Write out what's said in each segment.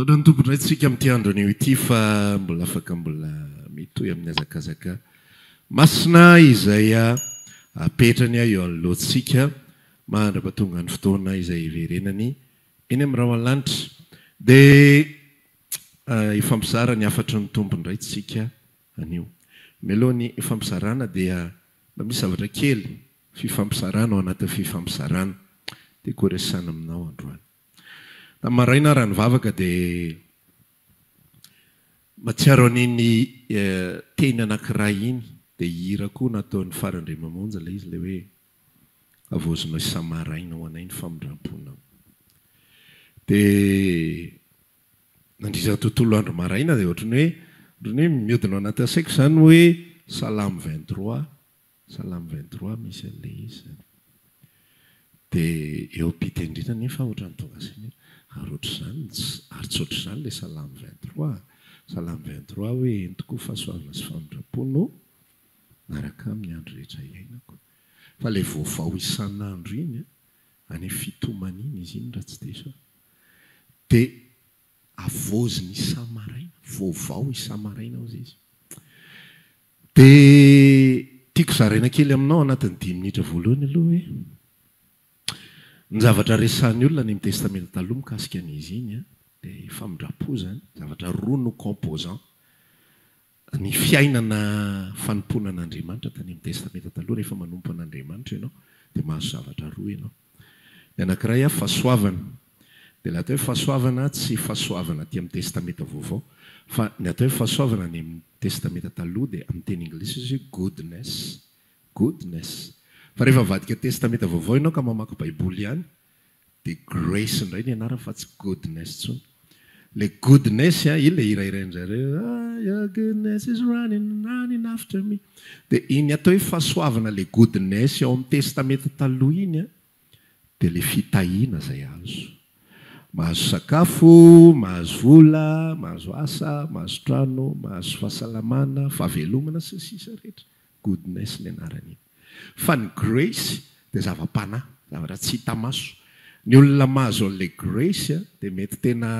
Misaotra ny Tompo indray tsika amin'ity andro anio ity fa mbola afaka mbola mitohy amin'ny hazakazaka masina izay apetrany eo anoloantsika mahandra fa tonga ny fotoana izay hiverenany eny amin'ny rahona lanitra. Dia hifampizara ny hafatry ny Tompo indray tsika. anio. Mialoha ny fampizarana dia mba misy zavatra kely fifampizarana ao anatin'ny fifampizarana tiako ho resahana aminao androany. Tamin'ny maraina aho raha nivavaka dia mahatsiaro an'iny teny anankiray iny, dia hira koa nataon'i Fara Andriamamonjy ilay izy, ilay hoe havaozinao isa-maraina ho anay ny famindram-ponao. Dia. Nandritra ny tontolo andro maraina dia ohatran'ny hoe ohatran'ny hoe mihodina ao anatin'ny saiko izany hoe salamo vingt trois salamo vingt trois misy an'ilay izy izany. Dia eo am-pite indrindra anefa ohatran'ny tonga saina hoe ary ohatr'izany ary tsy ohatr'izany ilay salamo vingt trois salamo vingt trois hoe entiko fahasoavana sy famindram-po no miaraka aminy andro rehetra iainako. Fa ilay vaovao isan'andro iny an, any fitomany iny izy iny raha tsy diso aho, dia havaoziny isa-maraina, voavao isa-maraina hozy izy. Dia tiako zaraina kely aminao anatin'ny dimy minitra voalohany aloha hoe ny zavatra resahin'ny olona any amin'ny Testamenta Taloha mikasika an'izy iny dia famindram-po izany, zavatra roa no composants, Ny fiainana fanompoana an'Andriamanitra tany amin'ny Testamenta Taloha, rehefa manompo an'Andriamanitra ianao dia mahazo zavatra roa ianao. Ny anankiray a, fahasoavana. Dia ilay atao hoe fahasoavana tsy fahasoavana aty amin'ny Testamenta Vaovao, fa ny atao hoe fahasoavana any amin'ny Testamenta Taloha dia amin'ny teny anglisy izy hoe goodness, goodness. Fa rehefa avadika Testamenta Vaovao ianao ka mamaky Baiboly ihany Dia Grace indray ny anarany fa tsy Goodness intsony. Ilay Goodness an, iny ilay hira hirain-dry zareo, ah, your goodness is running, running after me. Dia iny atao hoe fahasoavana ilay Goodness ao amin'ny Testamenta Taloha iny an, dia ilay fitahiana izay azo. Mahazo sakafo, mahazo vola, mahazo asa, mahazo trano, mahazo fahasalamana, fahavelomana sy ny sisa rehetra. Goodness ny anaran'iny. Fa ny grace dia zava-panahy, zavatra tsy hita maso. Ny olona mahazo an'ilay grace dia mety tena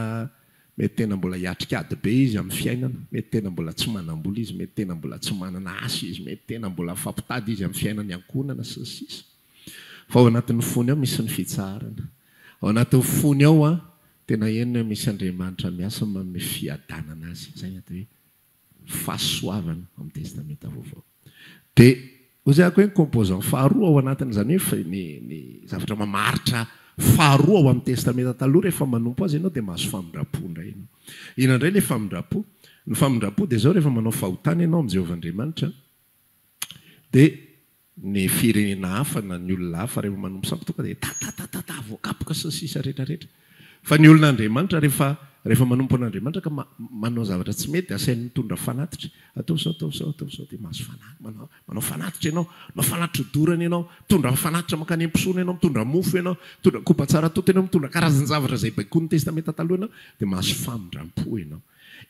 mety tena mbola hiatrika ady be izy amin'ny fiainana, mety tena mbola tsy manam-bola izy, mety tena mbola tsy manana asa izy, mety tena mbola mifampitady izy amin'ny fiainana iankohonana sy ny sisa Fa ao anatin'ny fony ao misy ny fitsaharana. Ao anatin'ny fony ao tena henony hoe misy Andriamanitra miasa manome fiadanana azy. Izay no atao hoe. fahasoavana ao amin'ny Testamenta Vaovao. Dia hoy izay amiko hoe ny composant faharoa ao anatin'izany hoe ny ny zavatra mamaritra faharoa ao amin'ny Testamenta Taloha rehefa manompo azy ianao dia mahazo famindram-po indray ianao. Inona indray ilay famindram-po? Ny famindram-po dia izao rehefa manao fahotana ianao amin'i Jehovah Andriamanitra dia ny firenena hafa na ny olona hafa rehefa manompo sampy tonga dia tatatatata voakapoka sy ny sisa rehetra rehetra fa ny olona Andriamanitra rehefa rehefa manompo an'Andriamanitra ka manao zavatra tsy mety dia asainy mitondra fanatitra ataovy zao ataovy zao ataovy zao dia mahazo fanatitra manao manao fanatitra ianao manao fanatitra odorana ianao mitondra fanatitra mankany am-pisoana ianao mitondra mofo ianao mitondra kopa tsara tonta ianao mitondra karazan-javatra izay baikoin'ny testamenta taloha ianao dia mahazo famindram-po ianao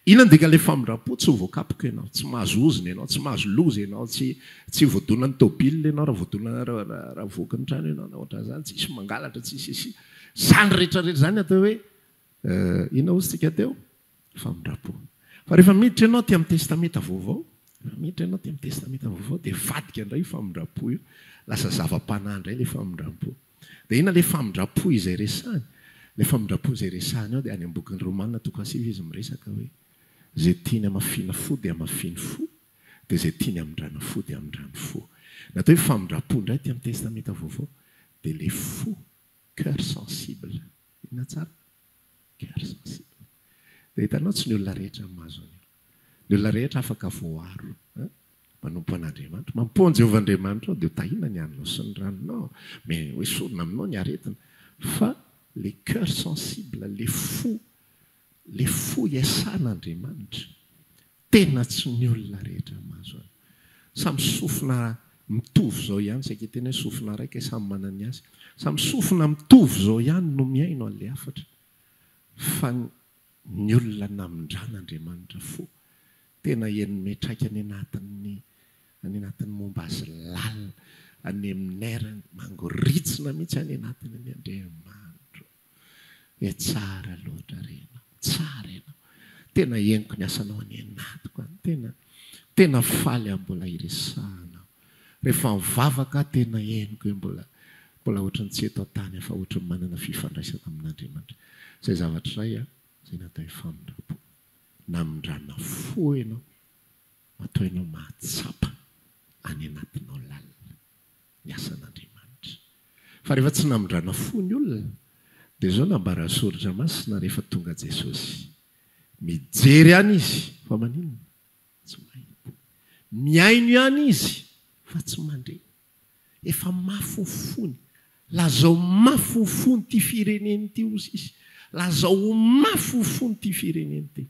Inona ndika ilay famindrampo tsy voakapoka ianao, tsy mahazo ozona ianao, tsy mahazo loza ianao, tsy tsy voadonan'ny tôbile ianao raha voadona raha voky ny trano ianao na ohatran'izany, tsisy mangalatra tsisy isi. Zany rehetra rehetra zany atao hoe inona ozy tsika teo? famindrampo. Fa rehefa miditra ianao aty amin'ny testamenta vaovao, rehefa miditra ianao aty amin'ny testamenta vaovao dia vadika indray io famindrampo io, lasa zava-panahy indray ilay famindrampo. Dia inona ilay famindram-po izay resahiny? Ilay famindram-po izay resahiny ao dia any amin'ny bokin'i Romana toko fahasivy izy miresaka hoe, Izay tiany hamafina fo dia hamafiny fo, dia izay tiany hamindrana fo dia hamindrany fo. Ny atao hoe famindram-po indray aty amin'ny Testamenta Vaovao dia ilay fo, cœur sensible. Inona tsara? Cœur sensible. Dia hitanao tsy ny olona rehetra no mahazo an'io. Ny olona rehetra afaka voaaro. Manompo an'Andriamanitra. Mampoha an'i Jehovah Andriamanitrao dia hotahina ny haninao sy ny ranonao. Mety hoe sorona aminao ny aretina. Fa ilay cœur sensible, ilay fo, ilay fo hiasan'Andriamanitra, Tena tsy ny olona rehetra mahazo azy. Samy sofina mitovy izao ihany, saika hiteny hoe sofina raika e, samy manana ny azy. Samy sofina mitovy izao ihany no mihaino an'ilay hafatra, fa ny olona namindran'Andriamanitra fo, tena henone traika any anatin'ny any anatin'ny momba azy lalina, aneminera, mangoritsina mihitsy any anatiny ny Andriamanitra. Eh tsara loatra re ianao, tsara ianao, tena henoko ny asanao any anatiko any, tena tena faly aho mbola hiresahana aho, rehefa mivavaka aho tena henoko hoe mbola mbola ohatran'ny tsy eto an-tany aho fa ohatran'ny manana fifandraisana amin'Andriamanitra. Izay zavatra iray an, izay natao hoe famindram-po, namindrana fo ianao, matoa ianao mahatsapa any anatinao lalina. ny asan'Andriamanitra. Fa rehefa tsy namindrana fo ny olona, dia izao nambaran'ny Soratra Masina rehefa tonga Jesosy, Mijery ihany Izy fa maninona? Tsy mahita. Mihaino ihany Izy fa tsy mandre. Efa mafy ho fony. Lazao mafy ho fony ity firenena ity hozy Izy. Lazao ho mafy ho fony ity firenena ity.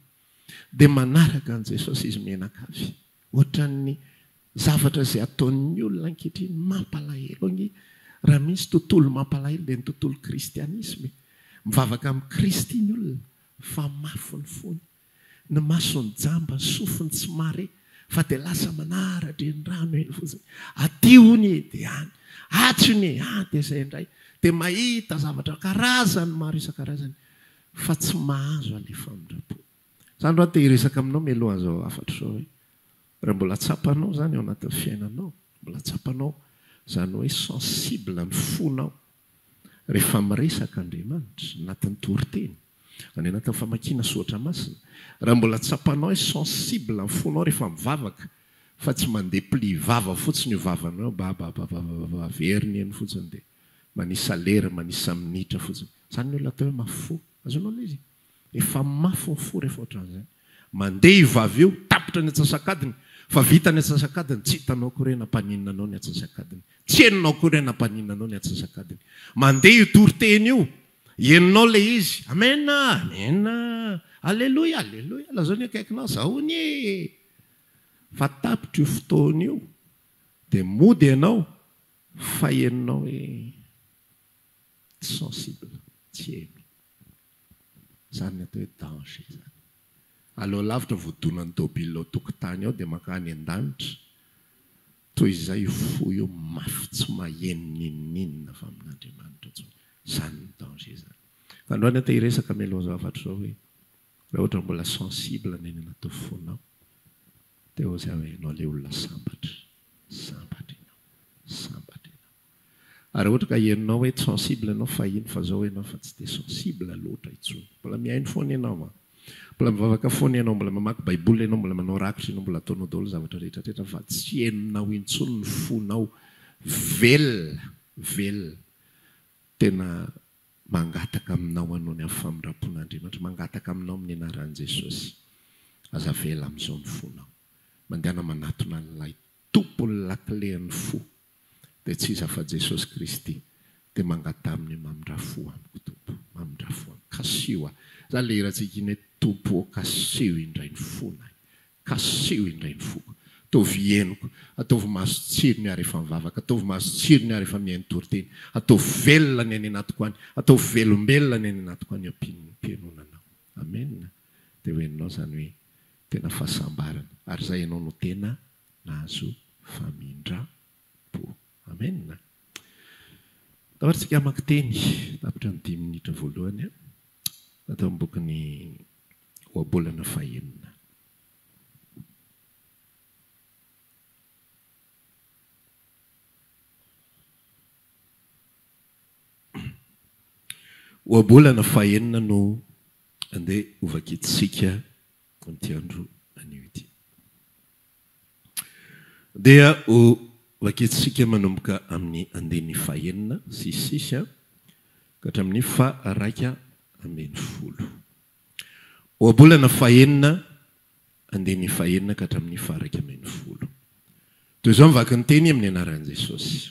Dia manaraka an'i Jesosy izy mianakavy. Ohatran'ny zavatra izay ataon'ny olona ankehitriny mampalahelo anie. Raha misy tontolo mampalahelo dia ny tontolo kristianisma e. Mivavaka amin'i Kristy ny olona fa mafy ny fony. Ny masony jamba, ny sofiny tsy mare fa dia lasa manara-drenirano eny fotsiny. Aty hono e, dia any. Atsy hono e, any dia izay indray. Dia mahita zavatra karazany maro isan-karazany fa tsy mahazo an'ilay famindram-po. Zany raha te hiresaka aminao mialoha zao hafatra zao hoe raha mbola tsapanao zany ao anatin'ny fiainanao, mbola tsapanao zany hoe sensible ny fonao rehefa miresaka Andriamanitra anatin'ny toriteny, any anatin'ny famakiana soratra masina, raha mbola tsapanao hoe sensible ny fonao rehefa mivavaka fa tsy mandeha pli vava fotsiny io vavanao io babababababa averiny eny fotsiny dia manisa lera, manisa minitra fotsiny, zany ny olona atao hoe mafy fo, azonao ilay izy? Efa mafy ny fo rehefa ohatran'izay. Mandeha io vavy io, tapitra ny atsasak'adiny, fa vita ny atsasak'adiny, tsy hitanao akory hoe nampaninona anao ny atsasak'adiny, tsy henonao akory hoe nampaninona anao ny atsasak'adiny. Mandeha io toriteny io, henonao ilay izy, Amen a! Amen a! Aleloia! Aleloia! Lazao ny akaikinao, Zao hono e! Fa tapitra io fotoana io, dia mody ianao, fa henonao hoe tsy sensible, tsy heno. Izany ny atao hoe danger izany. Aleo lavitra voadonan'ny tôbily ao an-tokotany ao dia mankany an-danitra, toy izay io fo io mafy tsy maheno n'inon'inona avy amin'Andriamanitra intsony. Izany ny danger izany. Fa androany aho te hiresaka mialoha izao hafatra izao hoe, raha ohatra mbola sensible ny any anaty fonao, dia hoy za hoe ianao ilay olona sambatra. Sambatra ianao. Sambatra ianao. Ary raha ohatra ka henonao hoe tsy sensible ianao fahiny fa zao ianao fa tsy dia sensible loatra intsony. Mbola mihaino foana ianao an! Mbola mivavaka foana ianao, mbola mamaky baiboly ianao, mbola manao rakitra ianao, mbola ataonao daholo zavatra rehetrarehetra fa tsy henonao intsony ny fonao velona, velona, tena mangataka aminao hanao ny amin'ny famindrampon'Andriamanitra, mangataka aminao amin'ny anaran'i Jesosy, aza avela amin'izao ny fonao, mandehana manatona an'ilay Tompon'ny lakilen'ny fo dia tsy iza fa Jesosy Kristy dia mangataha amin'io mamindrà fo amiko Tompo mamindrà fo amiko kasiho ahy izany ilay hirantsika iny hoe Tompo ô kasiho indray ny fonay kasiho indray ny foko ataovy henoko ataovy maso tsirony ary efa mivavaka ataovy maso tsirony ary efa mihaino toriteny ataovy velona ny any anatiko any ataovy velombelona ny any anatiko any ampian'ny fihenoana anao Amena dia ho henonao izany hoe Tena fahasambarana ary zay ianao no tena nahazo famindrampo. Amen. Tahotra tsika hamaky teny tapitra ny dimy minitra voalohany an, natao amin'ny bokin'ny Ohabolana fahenina. Ohabolana fahenina no andeha hovakintsika amin'ity andro anio ity. Dia hovakintsika manomboka amin'ny andininy fahenina sy sisa ka hatramin'ny faha-iraika ambin'ny folo. Ohabolana fahenina, andininy fahenina ka hatramin'ny faha-iraika ambin'ny folo. Toy izao ny vakin'ny teny amin'ny anaran'i Jesosy.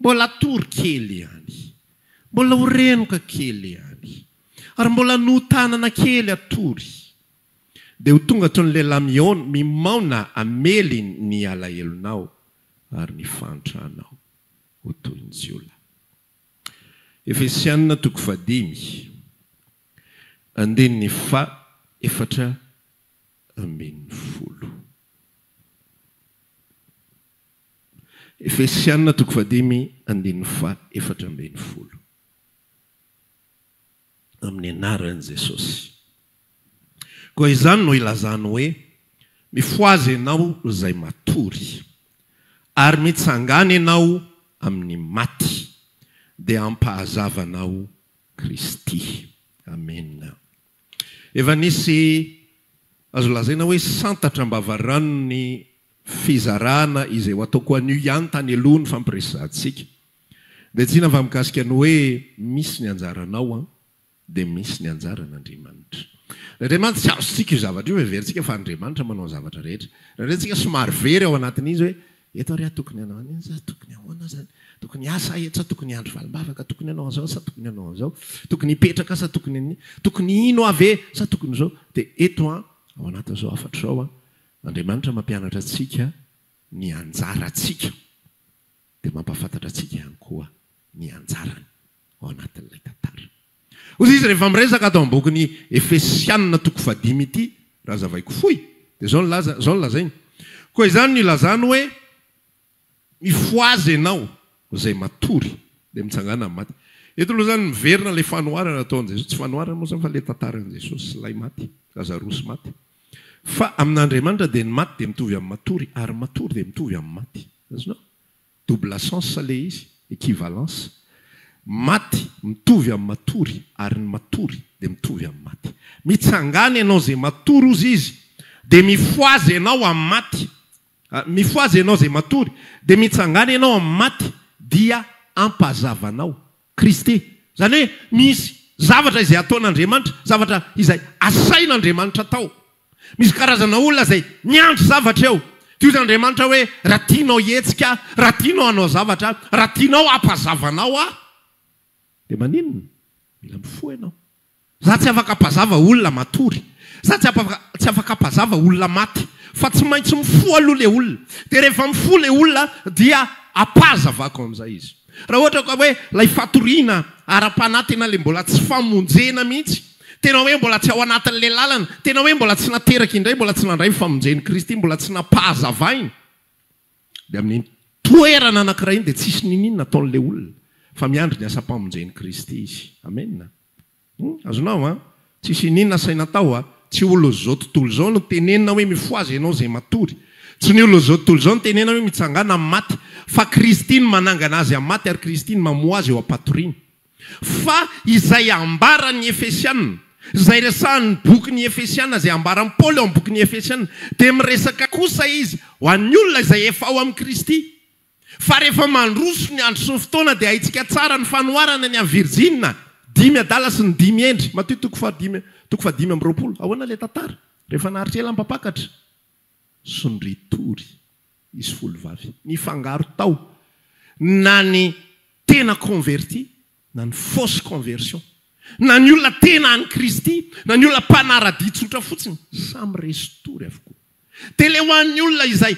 Mbola hatory kely ihany. Mbola ho renoka kely ihany. Ary mbola notanana kely hatory. Dia ho tonga toy ny lehilahy mihaona, mimaona hamely ny alahelonao ary ny fahantranao. Ho toy ny jiolahy. Efesiana toko fahadimy, andininy fahaefatra ambin'ny folo. Efesiana toko fahadimy andininy fahefatra ambin'ny folo Amin'ny anaran'i Jesosy koa izany no ilazany hoe, Mifohaza ianao izay matory, ary mitsangàna ianao amin'ny maty, dia ampahazavanao Kristy. Amena. Efa nisy azo lazaina hoe santatra am-bavaranon'ny fizarana izay ho ataoko anio ihany tany aloha nifampiresahantsika. Dia tsinona fa mikasika ny hoe misy ny anjaranao an, dia misy ny anjaran'Andriamanitra. Ny Andriamanitra tsy azontsika io zavatra io, heverintsika fa Andriamanitra manao ny zavatra rehetra. Raha indray antsika somary very ao anatin'izy hoe Eto ary aho tokony hanao an'iny sa tokony ahoana azany? Tokony hiasa aho eto sa tokony hiandry valim-bavaka? Tokony hanao an'izao sa tokony hanao an'izao? Tokony hipetraka sa tokony an'i? Tokony hino aho ve sa tokony izao? Dia eto an, ao anatin'izao hafatra izao an, Andriamanitra mampianatra antsika ny anjarantsika, dia mampahafantatra antsika ihany koa ny anjarany. ao anatin'ilay tantara. Hoy izy rehefa miresaka ato amin'ny bokin'i Efesiana toko fahadimy ity, raha hazavaiko fohy, dia izao no laza, izao no lazainy, Koa izany no ilazany hoe, Mifohaza ianao, izay matory, dia mitsangàna amin'ny maty. Eto aloha izany miverina ilay fanoharana ataon'i Jesosy, tsy fanoharana moa izany fa ilay tantaran'i Jesosy sy ilay maty, Lazarosy maty. Fa amin'Andriamanitra dia ny maty dia mitovy amin'ny matory, ary ny matory dia mitovy amin'ny maty. Azonao? Double sens ilay izy, equivalence. Maty mitovy amin'ny matory ary ny matory dia mitovy amin'ny maty. Mitsangàna ianao izay matory hozy izy dia mifohaza ianao amin'ny maty. Mifohaza ianao izay matory dia mitsangàna ianao amin'ny maty dia ampahazavanao Kristy. Izany hoe misy zavatra izay ataon'Andriamanitra, zavatra izay asain'Andriamanitra atao. Misy karazana olona izay miandry zavatra eo. Dia hoy izy Andriamanitra hoe, raha tianao hihetsika aho, raha tianao hanao zavatra aho, raha tianao hampazava anao aho, dia maninona? Mila mifoha ianao. Za tsy afaka ampazava olona matory. Za tsy tsy afaka ampazava olona maty. Fa tsy maintsy mifoha aloha le olona. Dia rehefa mifoha le olona dia ampazavako amin'izay izy. Raha ohatra ka hoe ilay fatoriana ara-panahy tena le mbola tsy famonjena mihitsy, tena hoe mbola tsy ao anatin'ilay lalana, tena hoe mbola tsy nateraka indray, mbola tsy nandray ny famonjen'i Kristy, mbola tsy nampahazavaina, Dia amin'iny toerana anankiray iny dia tsisy niniana ataon'ilay olona fa miandry ny asam-pamonjen'i Kristy izy. Amena. Hum, azonao an? Tsisy iniana asaina atao an? Tsy ho loz'izao tontolo izao no tenenina hoe mifohaza ianao izay matory. Tsy ny olon'izao tontolo izao no tenenina hoe mitsangàna amin'ny maty. Fa Kristy no manangana azy amin'ny maty ary Kristy no mamoha azy eo am-patoriana. Fa izay ambaran' ny Efesiana, izay resahan' ny Bokin' ny Efesiana, izay ambaran'i Paoly ao amin'ny Bokin' ny Efesiana, dia miresaka kosa izy ho an'ny olona izay efa ao amin'i Kristy, fa rehefa mandroso ny andro sy ny fotoana, dia hahintsika tsara ny fanoharana ny an'i Virjina, dimy adala sy ny dimy hendry. Matio toko fahadimy, toko fahadimy amby roapolo. Ahoana ilay tantara, rehefa naharitra ela am-pampakatra? sy ny retour izy folo vavy nifangaro tao na ny tena converti na ny fausse conversion na ny olona tena any kristy na ny olona mpanaradia tsotra fotsiny samy resy tory avokoa dia le ho an'ny olona izay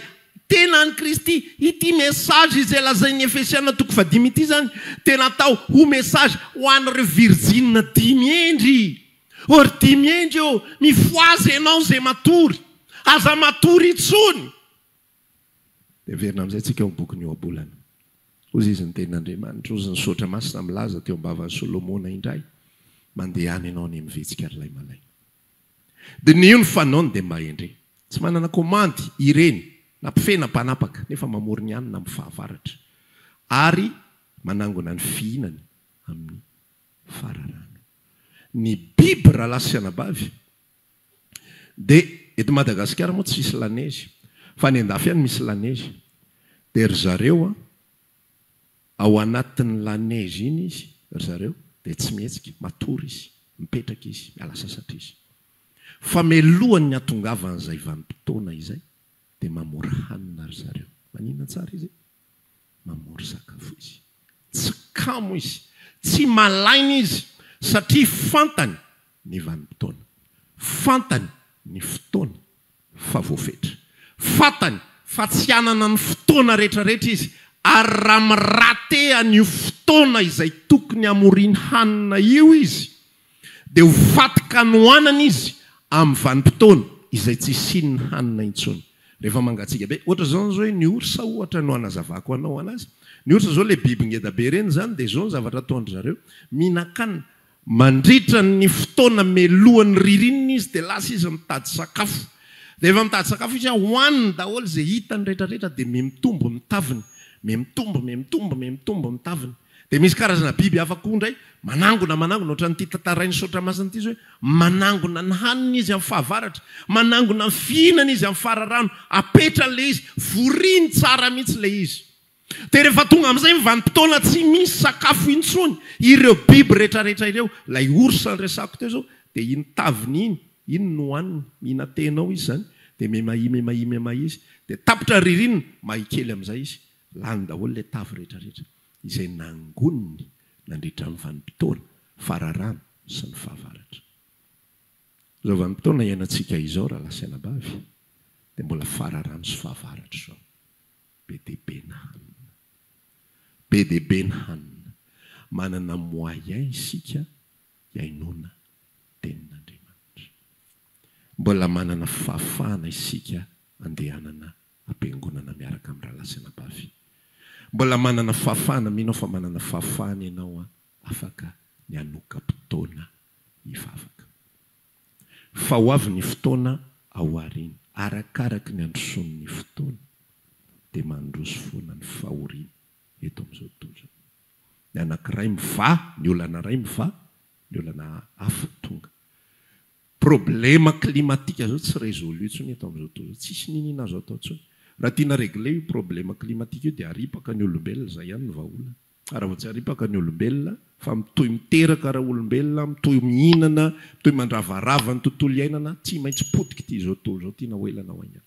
tena any kristy ity message izay lazain'ny efesiana toko fahadimy ity zany dia natao ho message ho an'ireo virjina dimy hendry Or dimy enga eo mifohaza enao ze matory aza matory intsony. Dia heverina amin'izay tsika ao bokin'ny ohabolana. Hozy izy ny tenin'Andriamanitra, hozy ny Soratra Masina milaza teo am-bavan'i Solomona indray, mandehana enao anie mivitsika ry lahy malaina. Diniho ny fanaony dia mba endre. Tsy manana komandy ireny na mpifehy na mpanapaka nefa mamory ny hanina amin'ny fahavaratra ary manangona ny fihinany amin'ny fararano. Ny biby rahalahy sy anabavy dia eto Madagasikara moa tsisy lanezy fa any andafy any misy lanezy dia ry zareo ao anatin'ny lanezy iny izy ry zareo dia tsy mihetsika matory izy mipetraka izy miala sasatra izy fa melohan'ny hatongavan'izay vanimpotoana izay dia mamora hanina ry zareo maninona tsara izy mamory sakafo izy. Tsy kamo izy, tsy malaina izy satria fantany ny vanim-potoana, fantany ny fotoana fa voafetra, fantany fa tsy hanana ny fotoana rehetrarehetra izy ary raha mi-rater an'io fotoana izay tokony hamoriany hanina io izy dia ho faty kanoanana izy amin'ny vanim-potoana izay tsy hisian'ny hanina intsony. Rehefa mangatsiaka be, ohatra izao izao hoe ny orsa ohatra no hanazavako anao anazy, ny orsa izao ilay biby ngeda be ireny izany dia izao ny zavatra ataon-dry zareo, mihinan-kanina, mandritra ny fotoana melohan'ny ririnina izy dia lasa izy mitady sakafo, rehefa mitady sakafo izy hohaniny daholo izay hitany rehetra rehetra dia mihamitombo ny taviny, mihamitombo, mihamitombo, mihamitombo ny taviny. Dia misy karazana biby hafa koa indray manangona, manangona ohatran'ity tantarain'i Soatramasina ity izao hoe manangona ny haniny izy amin'ny fahavaratra, manangona ny fihinany izy amin'ny fararano, apetrany ilay izy, voriny tsara mihitsy ilay izy. Dia rehefa tonga amin'izay ny vanim-potoana tsy misy sakafo intsony ireo biby rehetrarehetra ireo, ilay ours niresako teo izao, dia iny taviny iny, iny no hohaniny, mihina tehinao izy izany, dia mimahia, mimahia, mimahia izy, dia tapitra ny ririnina, mahia kely amin'izay izy, Lany daholo ilay tavy rehetrarehetra izay nangoniny nandritra ny vanim-potoana fararano sy ny fahavaratra. Izao vanim-potoana iainantsika izao rahalahy sy anabavy dia mbola fararano sy fahavaratra izao. Be dia be ny hanina. Be dia be ny hanina. Manana moyen isika hiainoana tenin'Andriamanitra. Mbola manana fahafahana isika andehanana ampiangonana miaraka amin'ny rahalahy sy anabavy. Mbola manana fahafahana, mino aho fa manana fahafahana ianao an, afaka ny hanoka-potoana hivavaka. Fa ho avy ny fotoana ao aoriana, arakaraka ny handrosoan'ny fotoana, dia mandroso foana ny fahoriana eto amin'izao tontolo izao. Ny anankiray mivaha, ny olana iray mivaha, ny olana hafa tonga. Problème climatique zao tsy résolu tsony eto amzao tontolo zao, tsisy niniana azo atao tsony. Raha tiana régler io problème climatique io dia aripaka ny olombelona, zay ihany ny vahaolana. Ary raha vao tsy aripaka ny olombelona fa mitohy miteraka ra olombelona, mitohy mihinana, mitohy mandravarava ny tontolo iainana, tsy maintsy potika ity zao tontolo zao tiana ho ela na ho aingana.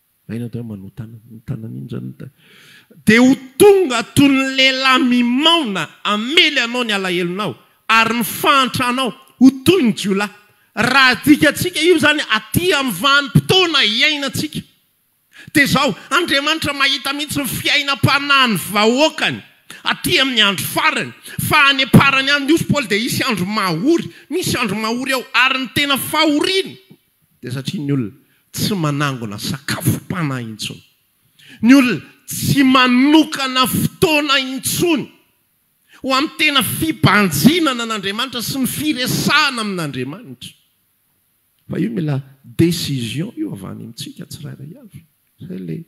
Aina dia manotana ny tanany iny zany ny tany. Dia ho tonga toy ny lehilahy mimaona hamely anao ny alahelonao, ary ny fahantranao ho toy ny jiolahy. Raha adikantsika io zany aty amin'ny vanim-potoana iainantsika. Dia izao, Andriamanitra mahita mihitsy ny fiainam-panahin'ny vahoakany aty amin'ny andro farany, fa any am-parany any, hoy Paoly, dia hisy andro mahory, misy andro mahory ao, ary ny tena fahoriana. Dia satria ny olona tsy manangona sakafom-panahy intsony, ny olona tsy manokana fotoana intsony ho amin'ny tena fibanjinana an'Andriamanitra sy ny firesahana amin'Andriamanitra. Fa io mila décision io avy any amintsika tsirairay avy. Izay ilay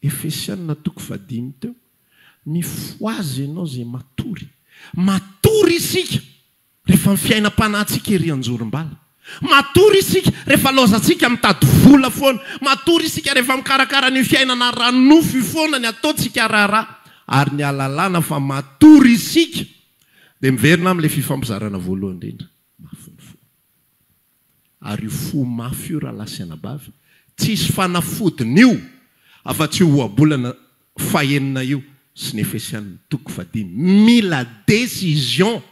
Efesiana toko fahadimy teo. Mifohaza ianao izay matory. Matory isika Rehefa ny fiainam-panahintsika ery an-jorom-bala. Matory isika rehefa laozantsika mitady vola foana. Matory isika rehefa mikarakara an'io fiainana ara-nofo io foana ny ataontsika raharaha. Ary ny ahalalana fa matory isika dia miverina amin'ilay fifampizarana voalohany indrindra, mafy ny fo. Ary io fo mafy io rahalahy sy anabavy, tsy hisy fanafodiny io afa-tsy io ohabolana fahenina io sy ny Efesianina toko fahadimy. Mila décision.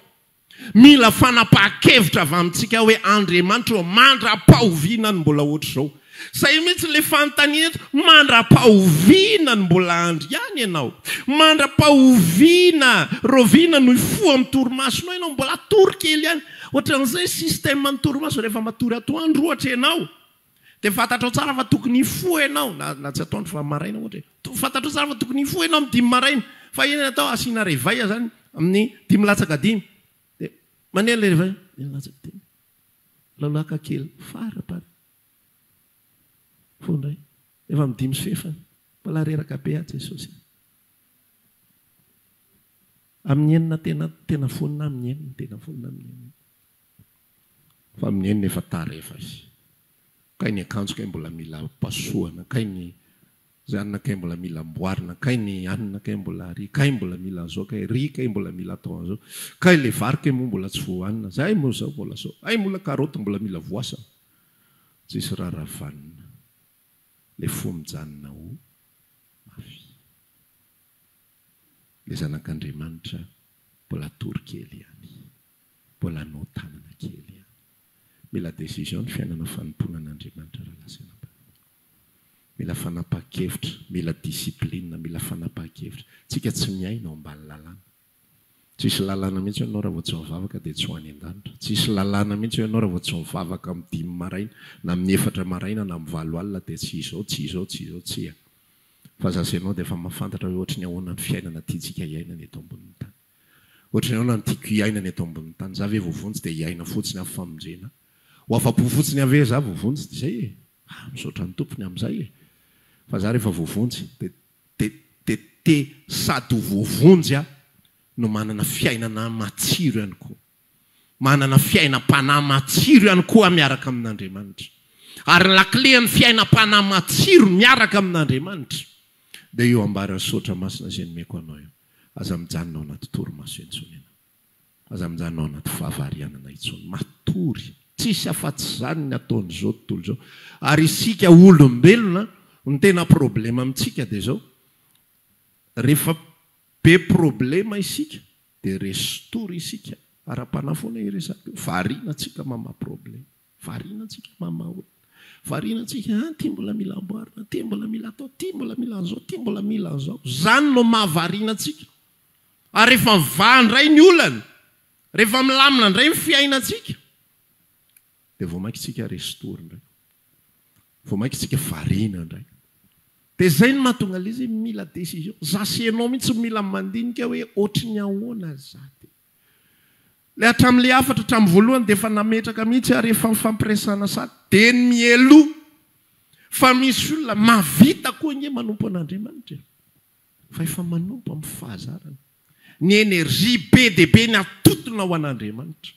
Mila fanapahan-kevitra avy amintsika hoe Andriamanitra ô, mandra-pahoviana ny mbola ohatr'izao? Izay mihitsy ilay fanontaniana eto, mandrapaha oviana no mbola andry ihany ianao? Mandrapaha oviana, rahoviana no hifoha amin'ny torimasonao ianao? Mbola hatory kely ihany. Ohatran'izay système ny torimaso, rehefa matory atoandro ohatra ianao, dia fantatrao tsara fa tokony hifoha ianao, na na tsy atoandro fa maraina ohatra e, to- fantatrao tsara fa tokony hifoha ianao amin'ny dimy maraina, fa inona no atao? Asiana réveil izany amin'ny dimy latsaka dimy. Dia mandeha ilay réveil, dimy latsaka dimy, lalaka kely, fara-parany. Koa indray. Efa amin'ny dimy sy fahefany. Mbola reraka be aho Jesosy a. Amin'ny enina tena tena vonona amin'ny enina tena vonona amin'ny enina. Fa amin'ny enina efa tara efa izy. Kay ny akanjo kay mbola mila pasohana, kay ny Zay anona kay mbola mila amboarina kay ny anona kay mbola ary kay mbola mila anzao kay ry kay mbola mila atao anzao kay le vary kay moa mbola tsy voahanina zay moa zao mbola zao ay mola karoty mbola mila voasana tsisy rara vanona le fo mijanona o mafy le zanak'Andriamanitra mbola atory kely ihany mbola notanana kely ihany mila décision ny fiainana fanompoana an'Andriamanitra raha lazaina am-pahefana. Mila fanapahan-kevitra, mila discipline, mila fanapahan-kevitra. Tsika tsy miaina ao ambany lalàna. Tsisy lalàna mihitsy ianao raha vao tsy mivavaka dia tsy ho any an-danitra. Tsisy lalàna mihitsy hoe ianao raha vao tsy mivavaka amin'ny dimy maraina, na amin'ny efatra maraina, na amin'ny valo alina dia tsy izao, tsy izao, tsy izao, tsia. Fa za sy ianao dia efa mahafantatra hoe ohatry ny ahoana ny fiainana tiantsika hiainana eto ambonin'ny tany. Ohatry ny ahoana no tiako hiaina ny eto ambonin'ny tany? Za ve voavonjy dia hiaina fotsiny aho famonjena? Ho afa-po fotsiny aho ve za voavonjy dia izay e? Ah, misaotra ny Tompo ny amin'izay e! Fa za rehefa voavonjy dia dia dia te sady ho voavonjy aho no manana fiainana matsiro ihany koa. Manana fiainam-panahy matsiro ihany koa aho miaraka amin'Andriamanitra. Ary ny lakilen'ny fiainam-panahy matsiro miaraka amin'Andriamanitra dia io ambara Misaotra Masina izay nomeko anao io. Aza mijanona ao anaty torimaso intsony ianao. Aza mijanona ao anaty fahavarianana intsony. Matory. Tsisy afa-tsy izany ny ataon'izao tontolo izao. Ary isika olombelona, ny tena problema amintsika dia izao, rehefa be problema isika, Dia restory isika ara-panahy foana iresaka io. Variana tsika mama problème. Variana tsika mama olona. Variana tsika an ty mbola mila amboarina, ty mbola mila atao, ty mbola mila an'zao, ty mbola mila an'zao. Zany no maha variana tsika. Ary rehefa mivaha indray ny olana, rehefa milamina indray ny fiainantsika, dia vao mainka tsika restory indray. Vao maika isika variana indray. Dia izay no mahatonga ilay izy mila décision. Za sy ianao mihitsy no mila mandinika hoe ohatry ny ahoana za dia. Ilay hatramin'ilay hafatra hatramin'ny voalohany dia efa nametraka mihitsy ary efa nifampiresahana sady dia ny mialoha fa misy olona mahavita koa ange manompo an'Andriamanitra e. Fa efa manompo amin'ny fahazarany. Ny énergie be dia be ny atotona ho an'Andriamanitra.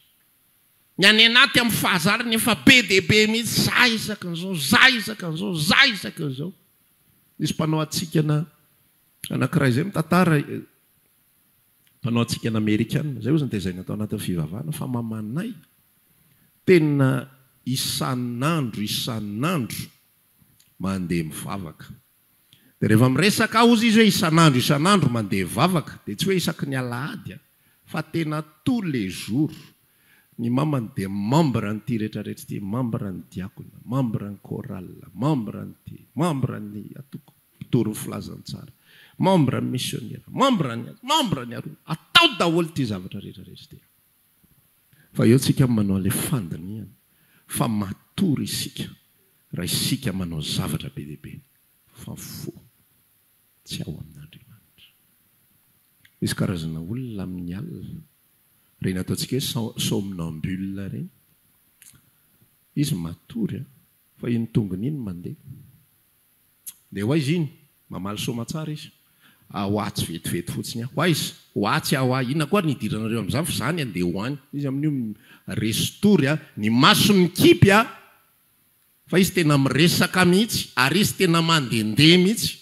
Ny any anaty amin'ny fahazarany efa be dia be mihitsy, za isaka an'izao, za isaka an'izao, za isaka an'izao. Nisy mpanao hatsikana anankiray izay mitantara, mpanao hatsikana amerikana, izay hozy no tezaina tao anatin'ny fivavahana, fa mamanay, tena isan'andro isan'andro mandeha mivavaka. Dia rehefa miresaka aho hozy izy hoe isan'andro isan'andro mandeha vavaka dia tsy hoe isaky ny alahady an, fa tena tous les jours, ny mamany dia membre an'ity rehetra rehetra ity, membre ny diakona, membre ny chorale, membre ny ty, membre ny atoko mpitory ny filazantsara, membre ny misionera, membre ny aza, membre ny aroa, atao daholo ity zavatra rehetra rehetra ity. Fa eo tsika manao an'ilay fandinihana fa matory isika raha isika manao zavatra be dia be fa fo tsy ao amin'Andriamanitra. Misy karazana olona amin'ny alina, ireny ataontsika hoe som somnambule ireny, izy matory fa iny tongony iny mandeha. Dia ho aiza iny? Mamaly soamatsara izy. A ho atsy vetivety fotsiny aho. Ho aiza? Ho atsy aho a! Inona koa ary ny hidiranareo amin'izany fa izany handeha ho any. Izy amin'io mi-resy tory a, ny masony mikipy a! Fa izy tena miresaka mihitsy, ary izy tena mandehandeha mihitsy.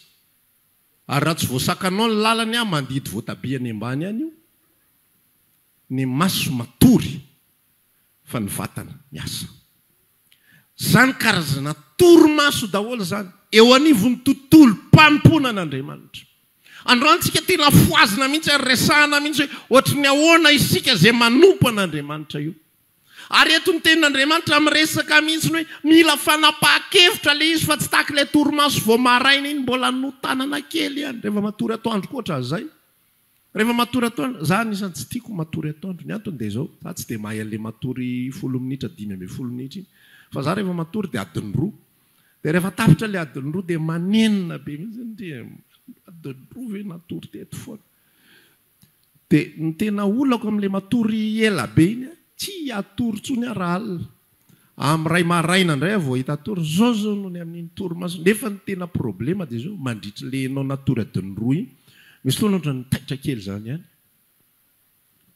Ary raha tsy voasakanao ny lalany a, mandidy voatabia any ambany any io. Ny maso matory fa ny vatana miasa. Izany karazana torimaso daholo izany eo anivon'ny tontolom-panompoana an'Andriamanitra. Androany isika tia lafoazina mihitsy ary resahana mihitsy hoe ohatry ny ahoana isika izay manompo an'Andriamanitra io. Ary eto ny tenin'Andriamanitra miresaka mihitsy hoe mila fanapahan-kevitra ilay izy fa tsy tahaka ilay torimaso vao maraina iny mbola notanana kely ihany, rehefa matory atoandro koa ohatran'izay. Rehefa matory atoandro, za anisan'ny tsy tiako matory atoandro, ny antony dia izao, za tsy dia mahay an'ilay matory folo minitra, dimy ambin'ny folo minitra iny, fa za rehefa matory dia adiny roa, dia rehefa tapitra ilay adiny roa dia manenina be mihintsy ny dia adiny roa ve natory teto foana, dia ny tena olako amin'ilay matory ela be iny an, tsy hatory intsony aho raha alina, Amin'ny iray maraina indray aho vao hahita tory, izao izao no ny amin'iny torimaso, nefa ny tena problema dia izao, mandritry le enao na tory adin'ny roa iny, misy fotoana ohatran'ny mitaitra kely izany ihany,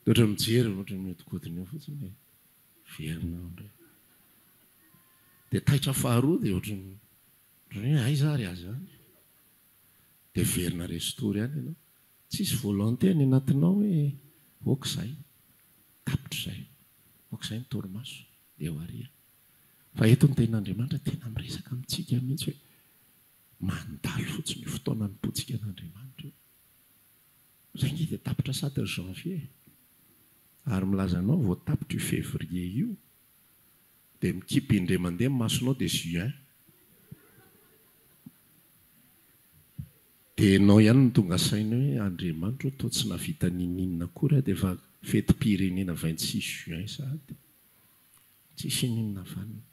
dia ohatran'ny mijery ohatran'ny mihodinkodina eo fotsiny e, miverina aho indray, dia taitra faharoa dia ohatran'ny ohatran'ny hoe aiza ary aza any, dia miverina resin-tory any ianao, tsisy volonté any anatinao hoe ok izay. Tapitra izay. Aoka izay ny torimaso. Dia ho ary aho. Fa eto ny Tenin'Andriamanitra tena miresaka amintsika mihitsy hoe mandalo fotsiny io fotoana anompoantsika an'Andriamanitra io. Izay ange dia tapitra sata io Janvier e. Ary milaza anao vao tapitra io Février io. Dia mikipy indray mandeha ny masonao dia Juin. Dia ianao ihany no tonga saina hoe Andriamanitra ô toa tsy nahavita ninininona akory aho dia efa fetim-pirenena vingt six juin sahady. Tsisy ininona vanona.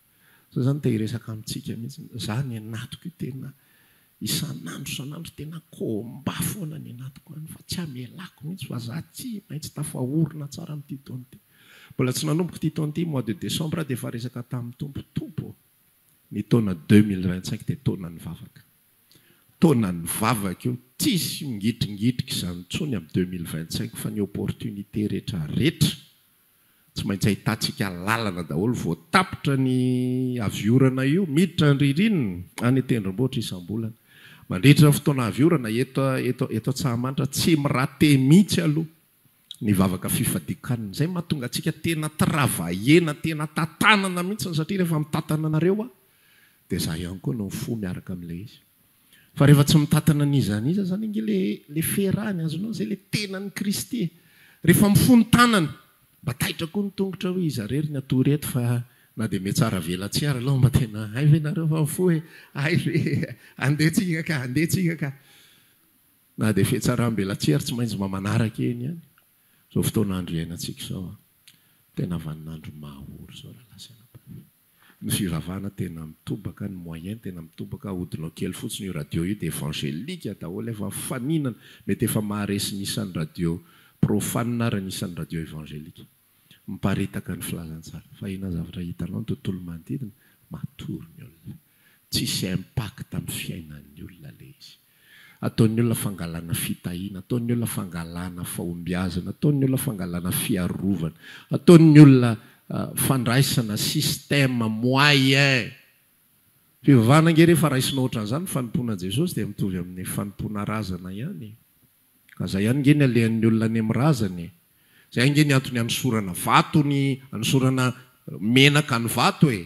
Zao zany te hiresaka amintsika mihitsy ny. Za any anatiko io tena isan'andro isan'andro tena combat foana any anatiko any fa tsy amelako mihitsy fa za tsy maintsy tafaorina tsara amin'ity taona ity. Mbola tsy nanomboka ity taona ity mois de décembre aho dia efa resaka tamin'ny Tompo, Tompo ô! ny taona deux mille vingt cinq dia taonan'ny vavaka. Taona ny vavaka io, tsisy mingitringitrika izany intsony amin'ny deux mille vingt cinq fa ny opportunité rehetra rehetra tsy maintsy ahitantsika lalana daholo vao tapitra ny avy orana io miditra ny ririnina any tendrombohitra isambolana mandritra ny fotoana avy orana eto eto eto Antsahamanitra tsy mi-rater mihitsy aloha ny vavaka fifadian-kanina. Izay no mahatonga antsika tena travailler-na, tena tantanana mihitsy satria rehefa mitantana anareo aho dia izaho ihany koa no mifoha miaraka amin'ilay izy. Fa rehefa tsy mitantana an'iza an'iza izany ange ilay ilay fiherahan'ny azonao, izay ilay tenan'i Kristy e! Rehefa mifoha ny tanana, mba taitra koa ny tongotra hoe iza irery ny hatory eto fa na dia mihatsara vela tsy ary aloha mba tena hay ve nareo fa mifoha e! hay ve e! andeha tsika ka, andeha tsika ka. Na dia fihatsaram-belatsihy ary tsy maintsy mba manaraka eny ihany izao fotoan'andro iainantsika izao an! Tena vanin'andro mahaory izao rahalahy sy anabavy. Ny fivavahana tena mitobaka, ny moyen tena mitobaka, ahodinao kely fotsiny io radio io dia evangelika daholo efa mifaninana, mety efa maharesy ny isan'ny radio profane ary ny isan'ny radio evangelika. Miparitaka ny filazantsara. Fa inona zavatra hitanao ny tontolo manodidina? Matory ny olona. Tsisy impact amin'ny fiainan'ny olona ilay izy. Ataon'ny olona fangalana fitahiana, ataon'ny olona fangalana fahombiazana, ataon'ny olona fangalana fiarovana, ataon'ny olona fandraisana système moyen. Fivavahana ange rehefa raisinao ohatran'izany ny fanompoana an'i Jesosy dia mitovy amin'ny fanompoana razana ihany. Ka zay ihany nge ny alehan'ny olona any amin'ny razany e! Zay ange ny antony anosorana vato ny anosorana menaka ny vato e!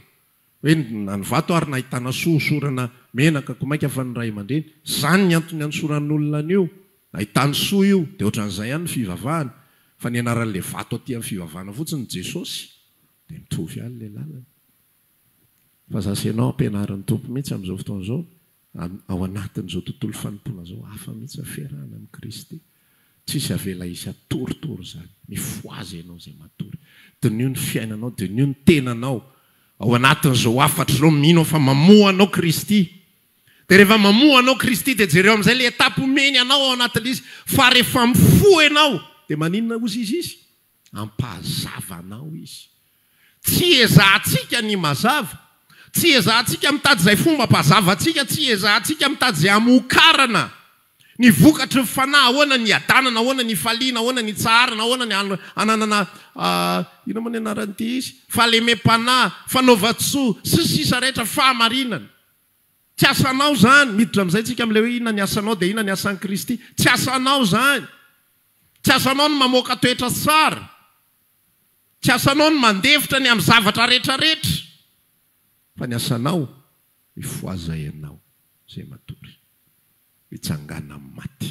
Hoe na ny vato ary nahitana soa hosorana menaka ko mainka fa ny ray aman-dreny! Zany ny antony anosoran'olona an'io! Nahitany soa io! De otran'izay ihany ny fivavahana! Fa nianaran'le vato aty amin'ny fivavahana fotsiny Jesosy! De mitovy ihany le lalana! Fa za sy ianao ampianarin'ny Tompo mihitsy amin'izao fotoana izao, ao anatin'izao tontolo fanompoana izao, hafa mihitsy ny fiarahana amin'i Kristy. Tsisy avela hisy hatoritory izany. Mifohaza ianao izay matory. Diniho ny fiainanao, diniho ny tenanao ao anatin'izao hafatry izao, mino aho fa mamoha anao Kristy. Dia rehefa mamoha anao Kristy dia jereo amin'izay ilay etape omeny anao ao anatin'ilay izy, fa rehefa mifoha ianao dia maninona hozy izy izy? Hampazava anao Izy. Tsy ezahantsika ny mazava. Tsy ezahantsika mitady izay fomba hampazava antsika. Tsy ezahantsika mitady izay hamokarana ny vokatry ny fanahy. Ahoana ny hiadanana, ahoana ny hifaliana, ahoana ny hitsaharana, ahoana ny hananana, inona moa ny anaran'ity izy, fahalemem-panahy, fanaovan-tsoa, sy ny sisa rehetra, fahamarinana. Tsy asanao izany. Miditra amin'izay tsika amin'ilay hoe inona ny asanao dia inona ny asan'i Kristy. Tsy asanao izany. Tsy asanao ny mamoaka toetra sy tsara. Tsy asanao ny mandefitra ny amin'ny zavatra rehetra rehetra. Fa ny asanao mifohaza ianao izay matory. Mitsangàna amin'ny maty.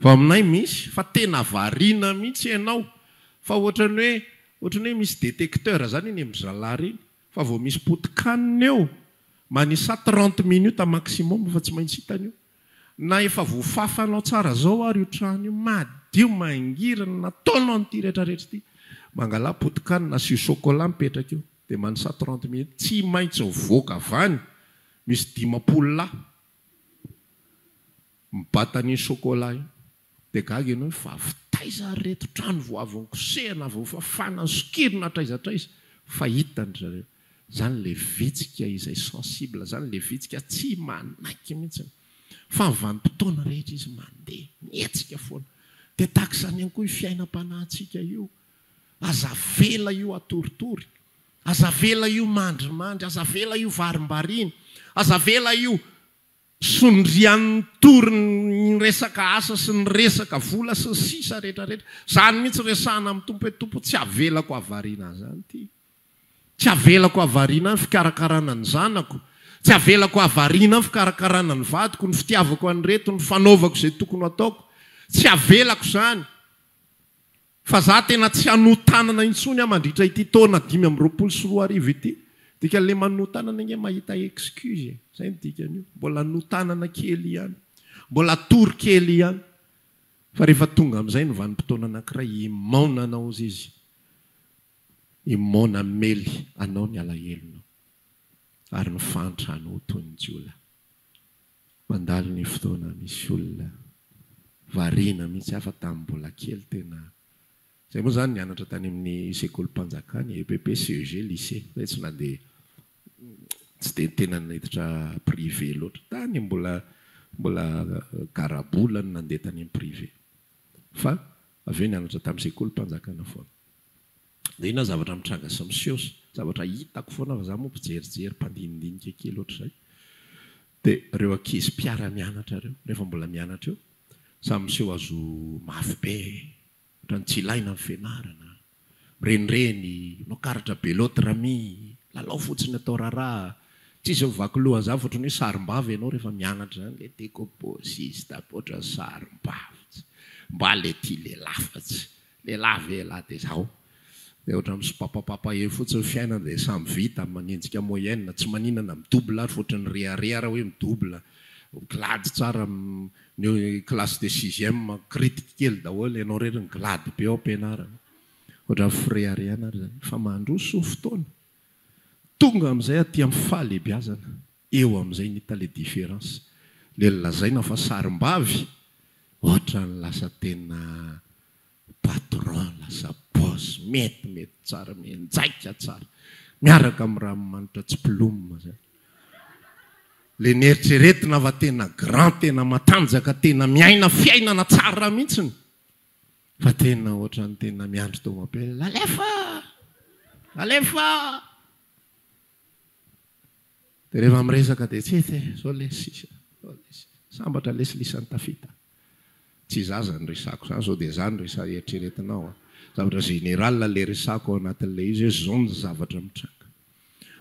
Vao aminay misy fa tena variana mihitsy ianao fa ohatran'ny hoe ohatran'ny hoe misy détecteur izany eny amin'ny zalahy ireny fa vao misy potikanina eo manisa trente minutes maximum fa tsy maintsy hitany io na efa voafafanao tsara izao ary io trano io madio mangirana nataonao an'ity rehetrarehetra ity mangala potikanina asio chocolat mipetraka eo dia manisa trente minutes tsy maintsy mivoaka avy any misy dimampolo lahy Mibata an'iny chocolat iny. Dia gaga ianao hoe vavy taiza ary ireto, trano vao avy nikosehina, vao fafana, sokirina hatraiza hatraiza. Fa hitany ry zareo. Izany ilay vitsika izay sensible, izany ilay vitsika tsy manaiky mihitsy. Fa ny vanim-potoana rehetra izy mandeha, mihetsika foana. Dia tahaka izany ihany koa io fiainam-panahintsika io. Aza avela io hatoritory. Aza avela io mandrimandry, aza avela io varimbariana, aza avela io sondrian'ny tory ny resaka asa sy ny resaka vola sy ny sisa rehetra rehetra. Izany mihitsy resahina amin'ny Tompo hoe Tompo tsy avelako havariana an'izany ity. Tsy avelako havariana ny fikarakarana ny zanako, tsy avelako havariana ny fikarakarana ny vadiko, ny fitiavako an'ireto, ny fanaovako izay tokony hataoko. Tsy avelako izany. Fa za tena tsy hanotanana intsony ah mandritra ity taona dimy amby roapolo sy roa arivo ity. Dikany le manotanana ange mahita excuse e. Zay ny dikan'io. Mbola notanana kely ihany. Mbola atory kely ihany. Fa rehefa tonga amizay ny vanim-potoana anakiray imaona anao ozy izy. Imaona amely anao ny alahelonao. Ary ny fahantrana ho toy ny jiolahy. Mandalo ny fotoana misy olona variana mihitsy aho fa tamin'ny mbola kely tena Zay moa zany nianatra tany amin'ny sekolim-panjakana EPP, CEG, lycée zay tsy nandeha tsy dia tena niditra privé loatra tany mbola mbola garabola no nandeha tany amin'ny privé fa avy eo nianatra tamin'ny sekolim-panjakana foana. Inona zavatra mitranga sy miseho sy zavatra hitako foana fa za moa mpijerijery mpandinidinika kely ohatr'izay dia ireo ankizy mpiara-mianatra ireo rehefa mbola mianatra eo samy miseho hazo mafy be ohatran'ny tsy ilaina ny fianarana, mirenireny, manao karatra be l'autre ami, lalao fotsiny atao raharaha, tsisy mivaky loha an'izany fa ohatran'ny hoe sarimbavy ianao rehefa mianatra izany le decobosiste ohatran'ny sarimbavy mba le tia lehilahy fa tsy Elavela dia izao dia ohatra misopapapapa eo fotsiny ny fiainana dia samy vita manenjika moyenne tsy maninana mi-double ary fa ohatra ny rehareha ary hoe mi-double glady tsara ny classe de sixième kiritika kely daholo ianao irery ny glady be ao am-pianarana ohatra ny fireharehana ary izany fa mandroso fotoana tonga amin'izay aty amin'ny fahalehibiazana. Eo amizay ny hita le difference. Le lazaina fa sarimbavy otrany lasa tena patron lasa boss mety mety tsara mienjaika tsara miaraka am ranomanitra tsy plum zay. Le neritreretina fa tena grand tena matanjaka tena miaina fiainana tsara mintsiny fa tena otrany tena miandry tomobile alefa alefa. Dia rehefa miresaka dia tsy ety e, zao lesy, zao lesy. Sambatra lesy lisany tafita. Tsy za zany resako zany sao dia za no resa eritreretinao a. Zavatra général ilay resako ao anatin'ilay izy hoe zao ny zavatra mitranga.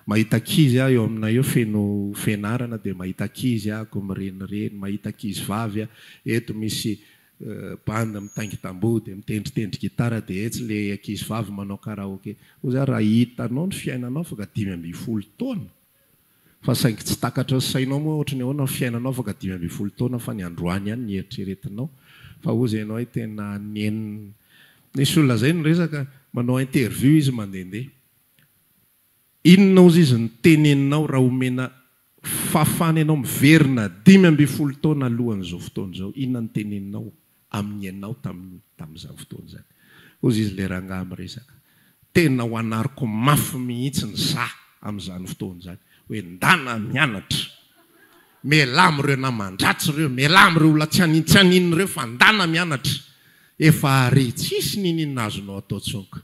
Mahita ankizy aho eo aminay eo feno fianarana dia mahita ankizy aho ko mirenireny, mahita ankizivavy aho, eto misy band mitaingy tamboho dia mitendritendry gitara dia etsy le ankizy vavy manao karaoke hoy za raha hitanao ny fiainanao afaka dimy ambin'ny folo taona fa saingy tsy takatry ny sainao moa ohatry ny ahoana ny fiainanao afaka dimy ambin'ny folo taona fa ny androany ihany ny eritreretinao fa hoy zay ianao hoe tena nenina nisy olona zay niresaka manao interview izy mandehandeha Inona ozy izy no teneninao raha omena fahafahana ianao miverina dimy ambin'ny folo taona alohan'izao fotoana izao, inona no teneninao amin'ny ianao tamin'ny tamin'izany fotoana izany? Ozy izy ilay rangahy miresaka, tena ho anariko mafy mihitsy ny za amin'izany fotoana izany hoe ndana mianatra, mialà amin'ireo naman-dratsy ireo, mialà amin'ireo olona tsy hanintsianina ireo fa ndana mianatra, efa ary tsisy n'inon'inona azonao atao tsonko.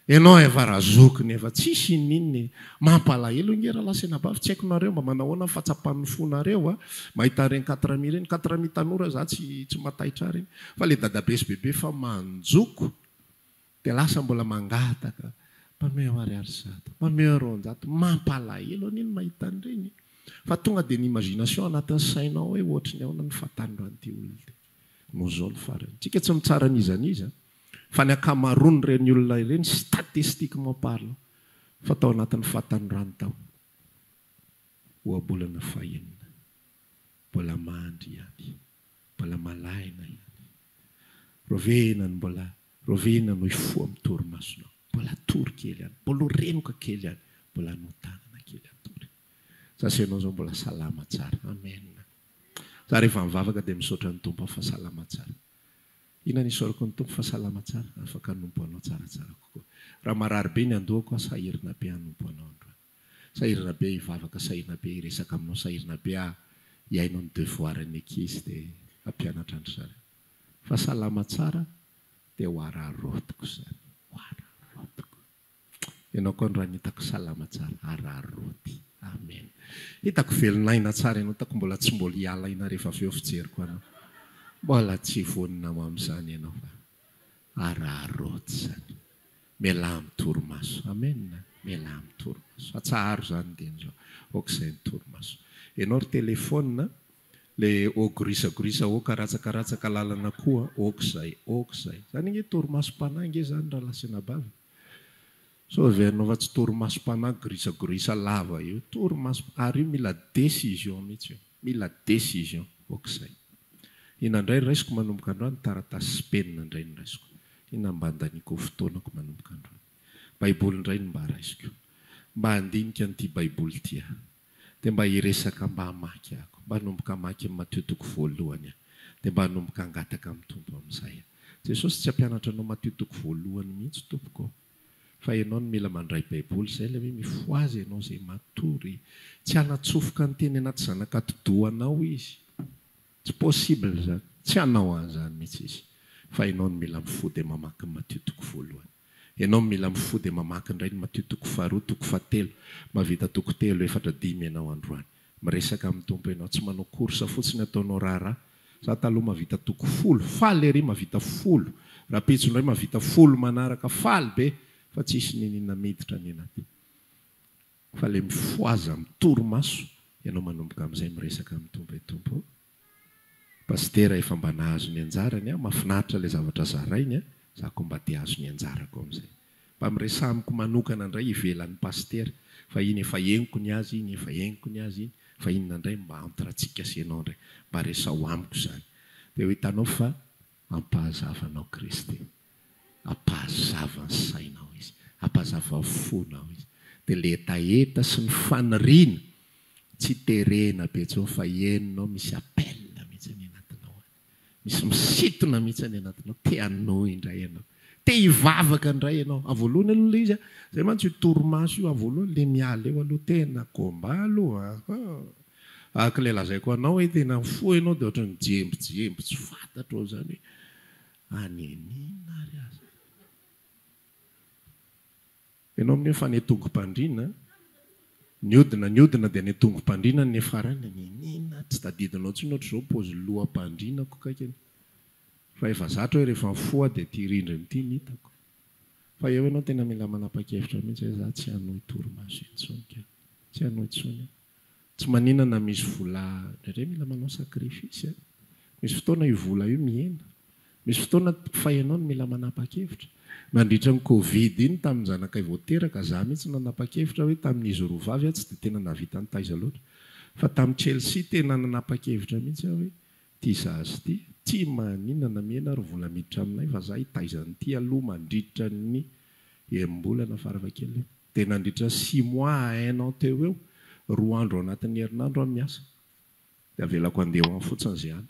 Ianao efa razokiny efa tsisy ininona e! Mampalahelo nge ra lahy sy anabavy, tsy haiko nareo mba manao ahoana ny fahatsapan'ny fonareo a! Mahita ireny quatre amis ireny, quatre amis tanora za tsy tsy mataitra ahy ireny, fa le dadabe sy bebe efa manjoko de lasa mbola mangataka mpameo ariary zato, mpameo roanjato, mampalahelo anie ny mahita an'ireny fa tonga de ny imagination anatin'ny sainao hoe ohatry ny ahoana ny fahatany ran'ity olona ity, noho zao ny farany, tsika tsy mitsara an'iza n'iza a! Fa ny ankamaroan'ireny olona ireny, statistiquement parlant, fa tao anatin'ny fahatanorany tao. Ohabolana fahenina. Mbola mandry ihany. Mbola malaina ihany. Rovina ny mbola, rovina no hifoha amin'ny torimasonao. Mbola atory kely ihany. Mbola ho renoka kely ihany. Mbola notanana kely atory. Za sy ianao izao mbola salama tsara. Amen. Za rehefa mivavaka dia misaotra ny Tompo aho fa salama tsara. Inona no isaorako ny Tompo fa salama tsara, afaka hanompo Anao tsaratsara kokoa. Raha marary be ny andohako aho, sahirana be hanompo Anao androany. Sahirana be aho hivavaka, sahirana be aho hiresaka Aminao, sahirana be aho hihaino ny devoirs ny ankizy dia hampianatra an-dry zareo. Fa salama tsara dia ho araraotiko izany, ho araraotiko. Ianao koa androany hitako salama tsara arary roti. Amen. Hitako velon'aina tsara ianao hitako mbola tsy mbola hialaina rehefa avy eo fijeriko anao. Mbola tsy vonona ho amin'izany ianao fa arary roti izany. Mialà amin'ny torimaso. Amen. Mialà amin'ny torimaso. Atsaharo izany dieny izao. Aoka izay ny torimaso. Ianao ry telefaonina Le ô gorisa gorisa ô karatsaka ratsaka lalana koa ok zay ok zay zany ange torimaso panahy ange zany ralah senabavy sao avy anao fa tsy torimaso panahy gorisa gorisa lava io torimaso ary io mila decision mitsy io mila decision ok zay ina ndray raisiko manomboka androany taratasy sy penina ndray no raisiko ina mba andaniko fotoanako manomboka androany baiboly ndray no mba raisiko mba andinika an'ity baiboly ty ah. Dia mba hiresaka mba hamaky ako mba hanomboka hamaky ny Matio toko voalohany aho dia mba hanomboka hangataka amin'ny Tompo amin'izay aho. Jesosy tsy hampianatra anao Matio toko voalohany mihitsy tompoko ô! Fa ianao no mila mandray baiboly izay ilay hoe mifohaza ianao izay matory. Tsy hanatsofoka ny teny anaty zanak'atidohanao izy. Tsy possible zany, tsy hanao an'zany mihitsy izy, fa enao no mila mifoha dia mamaky ny Matio toko voalohany, enao no mila mifoha dia mamaky indray ny Matio toko faharoa, toko fahatelo, mahavita toko telo, efatra, dimy enao androany, miresaka amin'ny Tompo enao, tsy manao course fotsiny ataonao raharaha, za taloha mahavita toko folo, faly ery mahavita folo, rahampitso indray mahavita folo manaraka, faly be, fa tsisy niniana miditra ny anaty. Fa le mifohaza am torimaso ianao manomboka amzay miresaka am Tompo e Tompo o! Pasitera efa mba nahazo ny anjarany aho, mafinaritra le zavatra zarainy a, za ko mba te ahazo ny anjarako amzay. Mba miresaha amiko manokana ndray ivelany pasitera, fa iny efa henoko ny azy iny, efa henoko ny azy iny, fa inona ndray mba entre atsika sy enao ndray, mba resaho amiko zany, de ho hitanao fa ampahazavanao Kristy. Ampahazava ny sainao izy. Ampahazavao ny fonao izy. Dia ilay hetaheta sy ny faniriana tsy terena be intsony fa henonao misy appel mihitsy any anatinao any. Misy misintona mihitsy any anatinao. Te hanohy indray ianao. Te hivavaka indray ianao. Ao voalohany aloha ilay izy an. Izay mantsy io torimaso io ao voalohany ilay miala eo aloha. Tena combat aloha an. Araka ilay lazaiko anao hoe tena mifoha ianao dia ohatran'ny mijembijemby tsy fantatro ao izany hoe. Anenina ary aza. Ianao amin'io fa netongom-pandriana, niodina niodina dia netongom-pandriana ny nefarany, anenina, tsy tadidinao intsony ohatr'izao paozy loham-pandrianako kaikany. Fa efa zatra hoe rehefa mifoha dia ity rindrina ity no hitako. Fa eo ianao tena mila manapa-kevitra mihitsy hoe za tsy hanohy torimaso intsony ka. Tsy hanohy intsony aho. Tsy manina na misy vola indraindray mila manao sacrifice eh. Misy fotoana io vola io mihena. Misy fotoana fa ianao no mila manapa-kevitra. Nandritra ny covid iny tamin'ny zanakay vao teraka, za mihitsy nanapa-kevitra hoe tamin'izy roa vavy aho tsy dia tena nahavita nitaiza loatra. Fa tamin'i Chelsea tena nanapa-kevitra mihitsy aho hoe tia za azy ity. Tsy manina na mihena ary vola miditra aminay fa za hitaiza an'ity aloha mandritra ny enim-bolana farafahakeliny. Dia nandritra six mois à un an teo eo, roa andro ao anatin'ny herinandro aho miasa. Dia avelako handeha ho any fotsiny izay any.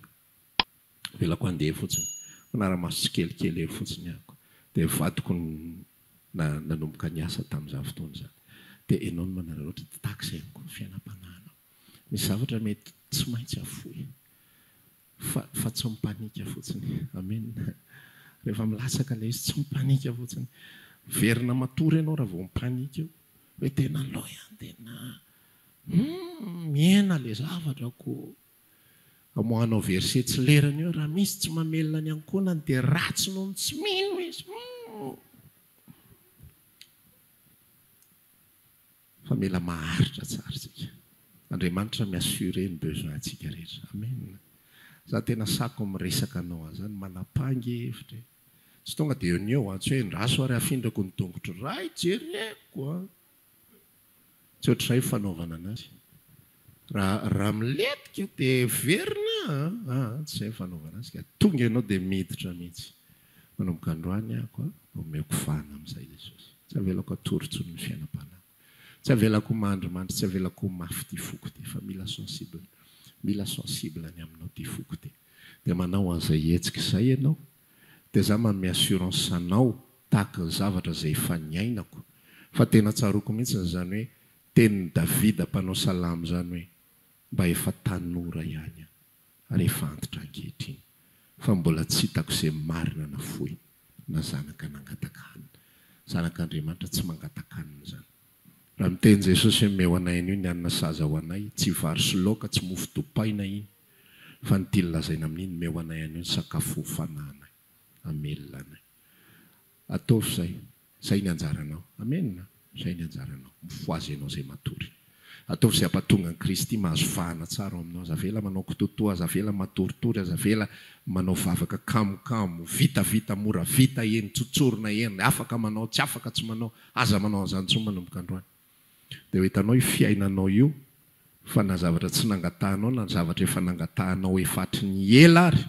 Avelako handeha fotsiny. Manara-maso tsikelikely eo fotsiny aho. Dia vadiko no nanomboka niasa tamin'izany fotoana izany. Dia ianao no manararaotra, dia tahaka izay ihany koa ny fiainam-panahinao. Misy zavatra mety tsy maintsy hafoy. Fa fa tsy mipanika fotsiny. Amen. Rehefa milatsaka ilay izy, tsy mipanika fotsiny. Miverina matory ianao raha vao mipanika eo. Hoe tena lò ihany tena humm mihena ilay zavatra ko. Amoahanao verset tsy lerany eo, raha misy tsy mamelona ny ankohonany dia ratsy noho ny tsy mino izy. Humm. Fa mila maharitra tsara tsika. Andriamanitra mi assurer ny besoin tsika rehetra. Amen. Za tena sako miresaka anao aho zany manapangy hevitra e. Tsy tonga de eo ny eo an. Tsy hoe endraso ary afindrako ny tongotro ray jereko an. Tsy ohatr'izay fanaovana anazy. Raha milentika dia heverina a! tsy izay ny fanaovana azy ka! Tonga ianao dia miditra mihitsy! Manomboka androany aho ka omeko vahana amin'izay Jesosy! Tsy avelako hatory intsony ny fiainam-panahiko! Tsy avelako ho mandrimandry! Tsy avelako ho mafy ity foko ity! Fa mila sensible! Mila sensible ny aminao ity foko ity! Dia manao an'izay hetsika izay ianao! Dia izaho manome assurance anao tahaka ny zavatra izay efa niainako! Fa tena tsaroako mihitsy izany hoe Tenin'i Davida mpanao salamo izany hoe, Mba efa tanora ihany aho, ary efa antitra ankehitriny, fa mbola tsy hitako izay marina na fohy, na zanaka nangataka hanina. Zanak'Andriamanitra tsy mangataka hanina izany. Raha miteny Jesosy hoe, Omeo anay anio ny hanina sahaza ho anay, tsy vary sy laoka, tsy mofo dopaina iny, fa ny tiany lazaina amin'iny, Omeo anay anio ny sakafo ho fanahinay. Hamelona anay. Ataovy izay. Izay ny anjaranao. Amena. Izay ny anjaranao. Mifohaza ianao izay matory. Ataovy izay hampatonga an'i Kristy mahazo vahana tsara ao aminao. Aza avela manao kitoatoa, aza avela matoritory, aza avela manao vavaka kamokamo, vitavita, mora vita, eny tsotsoro na eny afaka manao, tsy afaka tsy manao. Aza manao an'izany intsony manomboka androany. Dia ho hitanao io fiainanao io fa na zavatra tsy nangatahanao na zavatra efa nangatahanao efa hatry ny ela ary,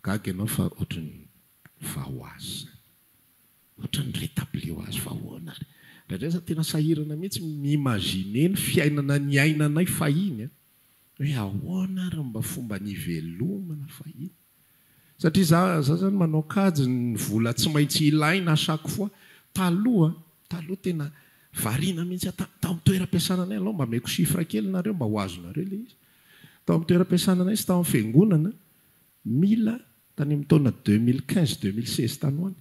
gaga ianao fa ohatry ny Fa ho azy izany. Ohatran'ny mi-retablir ho azy fa ahoana ary. Indraindray za tena sahirana mihitsy ny mi-imaginer ny fiainana niainanay fahiny an! Hoe ahoana ary ny mba fomba nivelomana fahiny. Satria za za izany manao kajy ny vola tsy maintsy ilaina à chaque fois. Taloha, taloha tena variana mihitsy aho. Tany tamin'ny toeram-piasana anay aloha mba ameko chiffre kely nareo mba ho azonareo ilay izy. Tao amin'ny toeram-piasana anay sy tao amin'ny fiangonana Mila, tany amin'ny taona deux mille quinze, deux mille seize tany ho any,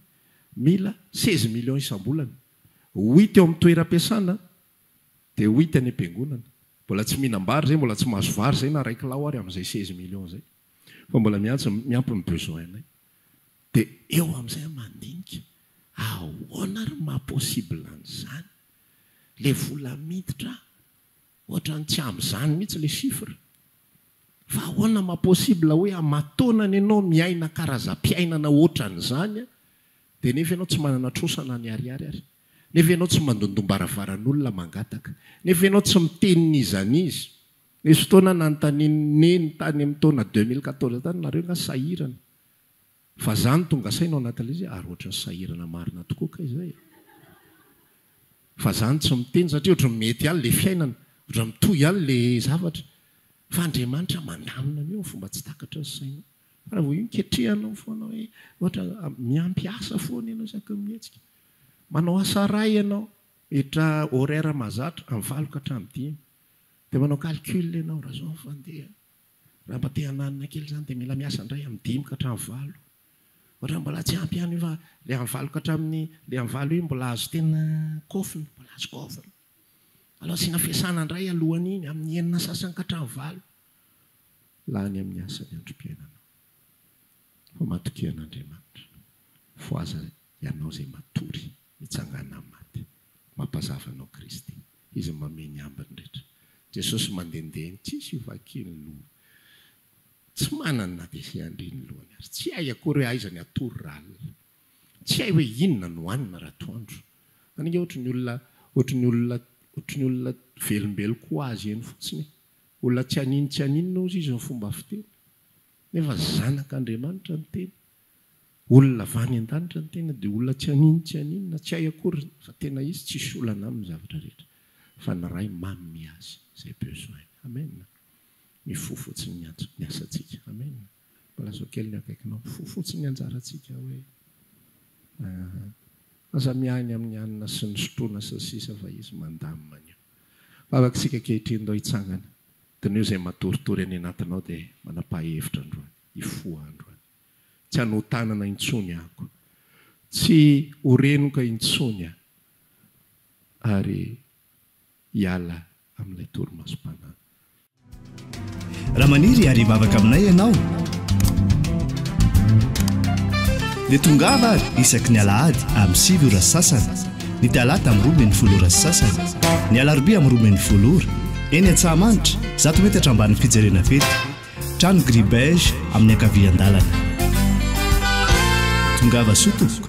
mila seize millions isam-bolana. Ho hita eo amin'ny toeram-piasana dia ho hita any am-piangonana. Mbola tsy mihinam-bary izay, mbola tsy mahazo vary izay na iray kilao ary amin'izay seize millions izay. Fa mbola miantso miampy ny besoin-nay. Dia eo amin'izay aho mandinika, ahoana ary ny maha-possible an'izany? Ilay vola miditra Ohatrany tsy ampy izany mihitsy le chiffre. Fa ahoana ma possible hoe amatoana ny anao miaina karazam-piainana ohatran'izany a, dia nefa ianao tsy manana trosa na ny ariary ary. Nefa ianao tsy mandondom-baravaran'olona mangataka. Nefa ianao tsy miteny n'iza n'iza. Nisy fotoana nanontanian'i Neny tany amin'ny taona deux mille quatorze tany, nareo angaha sahirana? Fa za no tonga saina ao anatin'ilay izy ary ohatran'ny sahirana marina tokoa kay zay e! Fa za no tsy miteny satria ohatran'ny mety ihany ilay fiainana, ohatran'ny mitohy ihany ilay zavatra. Fa Andriamanitra mandamina an'io amin'ny fomba tsy takatry ny sainao. Fa raha vao io ketrehanao foana hoe ohatra miampy asa foana ianao isaky ny mihetsika. Manao asa iray ianao, miditra horaire mahazatra amin'ny valo ka hatramin'ny dimy. Dia manao calcul ianao, raha izao ny fandeha. Raha mba te hananina kely izany dia mila miasa indray amin'ny dimy ka hatramin'ny valo. Ohatra mbola tsy ampy ihany io fa ilay amin'ny valo ka hatramin'ny, ilay amin'ny valo iny mbola azo tena kofona, mbola azo kofona. Aleo asiana fiasana indray alohan'iny, amin'ny enina sasany ka hatramin'ny valo. Lany amin'ny asa ny androm-piainanao. Fa matokia an'Andriamanitra. Fohaza ianao izay matory. Nitsangana amin'ny maty. Mampazava anao Kristy. Izy no manome ny ambiny rehetra. Jesosy mandehandeha eny tsisy hivakia ny lohany. Tsy manana na dia izay handria ny lohany aza. Tsy hay akory hoe aiza ny hatory raha alina. Tsy hay hoe inona no hanina raha atoandro. Any ange ohatry ny olona, ohatry ny olona, ohatry ny olona velombeloko ho azy eny fotsiny e. Olona tsy haninontsianinona hozy izy ny fomba fiteny. Nefa Zanak'Andriamanitra ny teny. Olona avy any an-danitra ny tena dia olona tsy anino tsy anino na tsy hay akory fa tena izy tsisy olana aminy zavatra rehetra fa ny Ray manome azy izay besoin amen mifoha fotsiny ny antso ny asantsika amen mba lazao kely ny akaikinao mifoha fotsiny ny anjarantsika hoe ahh aza miahy ny amin'ny hanina sy ny sotroina sy ny sisa fa izy mandamina an'io vavak'sika ankehitriny ndao hitsangana dinio izay matoritory any anatinao dia manapaha hevitra androany hifoha androany. Tsy hanotanana intsony ako. Tsy ho renoka intsony aho. Ary hiala amin'ilay torimasom-panahy. Raha maniry ary hivavaka aminay ianao, dia tongava ary isaky ny alahady amin'ny sivy ora sy sasany, ny talata amin'ny roa ambin'ny folo ora sy sasany, ny alarobia amin'ny roa ambin'ny folo ora, eny Antsahamanitra, zato metatra ambanin'ny fijerena fety. Trano gris beige amin'ny ankavian-dalana. Tongava soa tompoko.